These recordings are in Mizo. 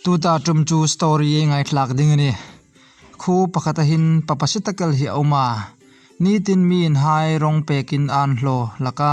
Tuta tum chu story e ngaithlak ding ani. Khu pakhat ahin pa pasitakel hi a awm a, nitin mi inhai rawng pekin a an hlaw hlak a.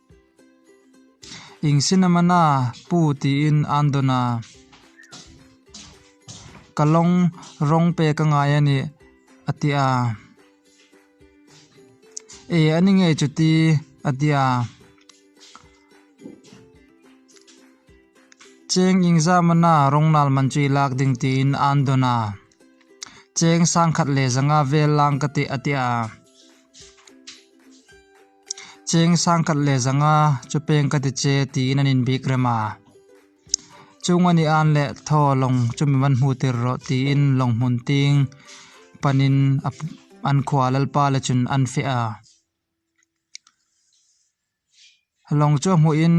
Ing sinamana pu tiin an dawn a. Ka lawng rawng pe ka ngai a nih a ti a. E a ni ngei chuti a ti a. Cheng ing zamana rawngnal man chu i lak ding tiin an dawn a. Cheng sangkhat leh zanga vel lang ka ti a ti a. Cheng sang khat leh zanga chu peng ka ti che tiin an inbik rem a. Chung a ni an le thaw lawng chu min van hmu tir rawh tiin lawng hmun ting panin a an khua lalpa leh chun an fiah a. Lawng chu a hmuhin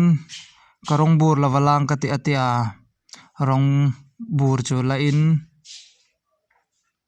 ka rawng bur lova lang ka ti a tia rawng bur chu lahin.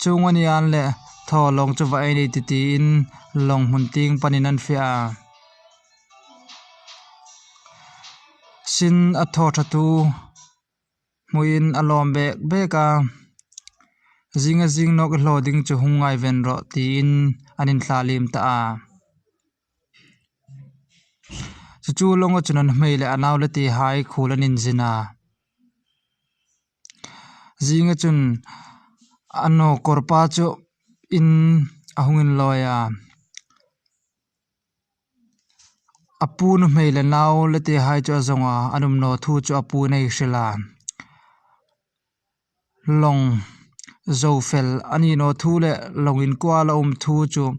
Chhung a nia an le thaw lawng chu va ei ni titiin lawng hmun ting panin an fiah a. Sin a thaw thatu hmuhin a lawm bek bek a, zinga zing nawk i hlaw ding chu hung ngai ven rawh tiin an in thlalim ta a. Chu chu lawng a chunan hmei leh a nau le ti hai khul an inzin a. Zinga chun a nu kawr pa chu in a hung in lawi a a pu na hmei leh nau la te hai chu a zawng a an awm lo thu chu a pu in a hrilh a lawng zo fel a nih loh thu leh lawng in kual a awm thu chu--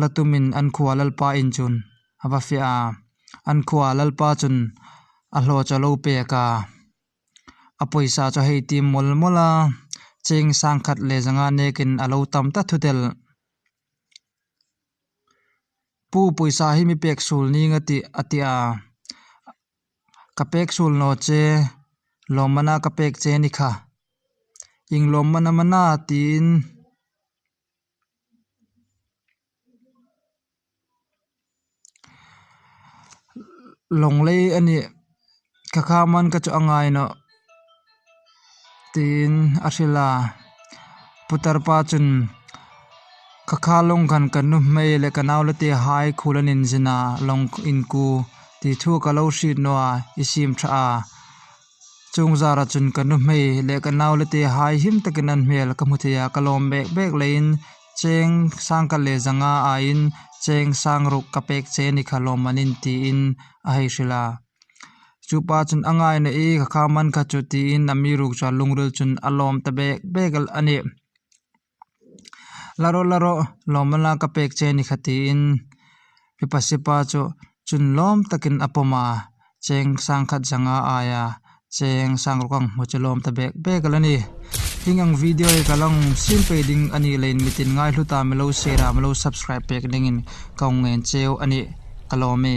La tumin an khua Lalpa in chun a va fiah a, an khua Lalpa chun a hlaw chaw lo pek a, a pawisa chu hei tim mawl mawl a, cheng sang khat leh zanga nekin a lo tam ta thu telh. Pu pawisa hi mi pek sul ning a ti a ti a, ka pek sul naw che, lawmmana ka pek che ni kha, inglawmmana mana tiin. lawnglei a nih ka kha man ka chu a ngai loh tiin a hrilh a putar pa chuan ka kha lawng kan ka nu hmel leh ka nau lete hai khul an inzin a lawng inkû ti thu ka lo hriat nuaih i sim tha a. Chung zara chun ka nu hmei leh ka nau lete hai him takin an hmel ka hmu thei a, ka lawm bek bek leh in cheng sang kal leh zanga ai in cheng sang ruk ka pek che ni kha lawm manin ti in a hei hrilh a. Chu pa chun a ngai na i ka kha man kha chu ti in a mi ruk chuan lungril chun a lawm ta bek bek a ni. La rawh, la rawh, lawma la ka pek che ni kha tiin Pipa Sipa chu chun lawm takin a pawm a, cheng sang khat zanga ai a, cheng sang rawk ang hmu chu lawm ta bek bek a la ni. Hling ang video hi ka la awm sin phei ding a nih loin mi tin ngai hlu ta mi lo share a mi lo subscribe pek dingin ka awm nghen cheu a nih ka lawm e.